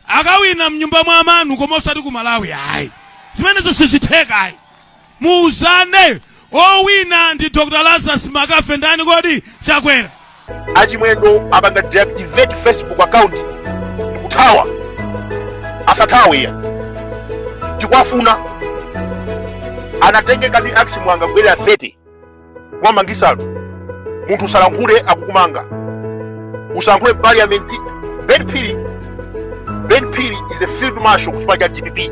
akawina mnyumba mwa amanu koma osati ku malawi ayi zimenezo sizitheka ayi muuzane owina ndi dr lazarus makafe ndani kodi chakwera achimwendo apanga deactivate facebook account ndikuthawa asathawe iyayi tikuwafuna anatengeka ndi a Chimwanga kubwera 30 kumamangisa anthu munthu usalankhule akukumanga usalankhule parliament ben phiri ben phiri is a field marshal kuchipani cha dpp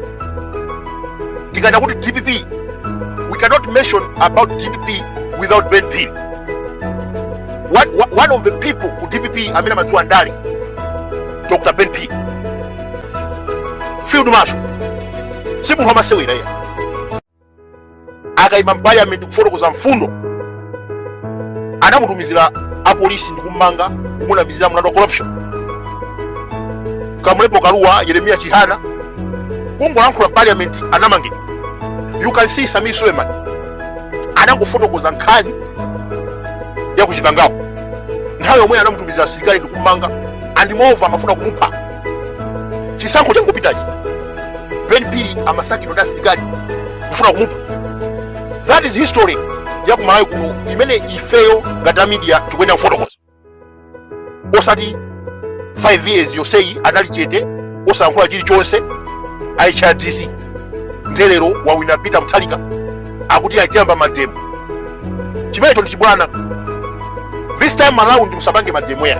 tikanena kuti dpp we cannot mention about dpp without ben phiri one of the people ku dpp amene amadziwa ndale dr ben phiri field marshal si munthu wamasewera iyayi akaima mpaliyamenti kufotokoza mfundo anamutumizira apolisi ndi kummanga kumunamizira mlandu wa corruption kamulepo kaluwa yeremiya chihana kungolankhula mpaliyamenti anamangidwa you can see samir suleiman anangofotokoza nkhani ya kuchikangawa nthawi yomweyo anamutumizira asilikali ndi kummanga and moreover amafuna kumupha chisankho changopitachi ben phiri amasakidwa ndi asilikali kufuna kumupha that is history ya kumalawi kuno imene ifeyo ngati a media tikuyenera kufotokoza osati 5 years yonseyi anali chete osayankhula chilichonse a hrdc nde lero wawina peter mutharika akuti ayiti tiyamba mademo chimenecho ndi chibwana this time around musapange mademo ayi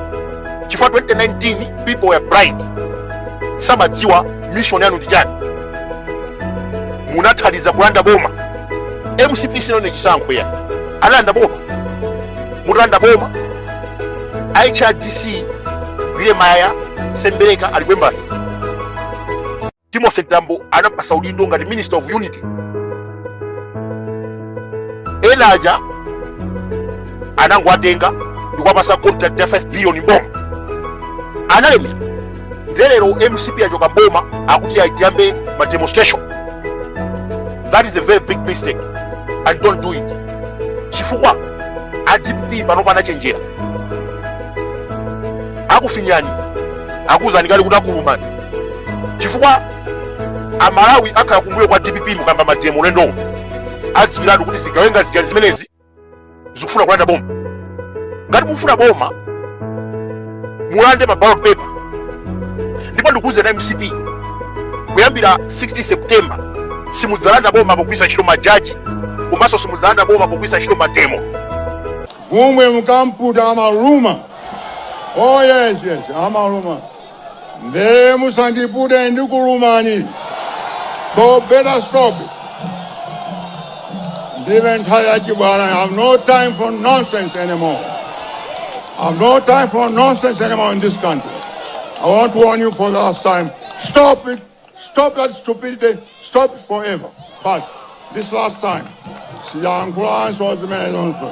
chifukwa 2019 people were blind samadziwa mission yanu ndi chani munathandiza kulanda boma mcp sinawine chisankho ayi analanda boma mutalanda boma hrdc pyerem a mayaya sembereka ali kwembasi Timothy Mtambo anampatsa udindo ngati Minister of Unity. Ena aja anangowatenga ndikuwapatsa contract ya 5 billion m'boma analemera nde lero mcp yachoka m'boma akuti ayi tiyambe ma demonstration that is a very big mistake and don't do it chifukwa a dpp panopa anachenjera akufinyani akuzani kale kuti akulumani chifukwa amalawi akhala kumbuyo kwa dpp mukayamba mademo ulendo uno adziwiratu kuti zigawenga zija zimenezi zikufuna kulanda boma ngati mufuna boma mulande pa ballot paper ndipo ndikuuzeni a mcp kuyambira 16 september simudzalanda boma pogwiritsa ntchito majaji komanso simudzalanda boma pogwiritsa ntchito mademo Njovu mukaiputa amaluma. Oh yes, yes, amaluma. nde musandipute ndikulumani so better stop ndive nthawi yachibwana i have no time for nonsense anymore i have no time for nonsense anymore in this country i want to warn you for the last time stop it stop that stupidity stop it forever but this last time siyankhulanso zimenezonso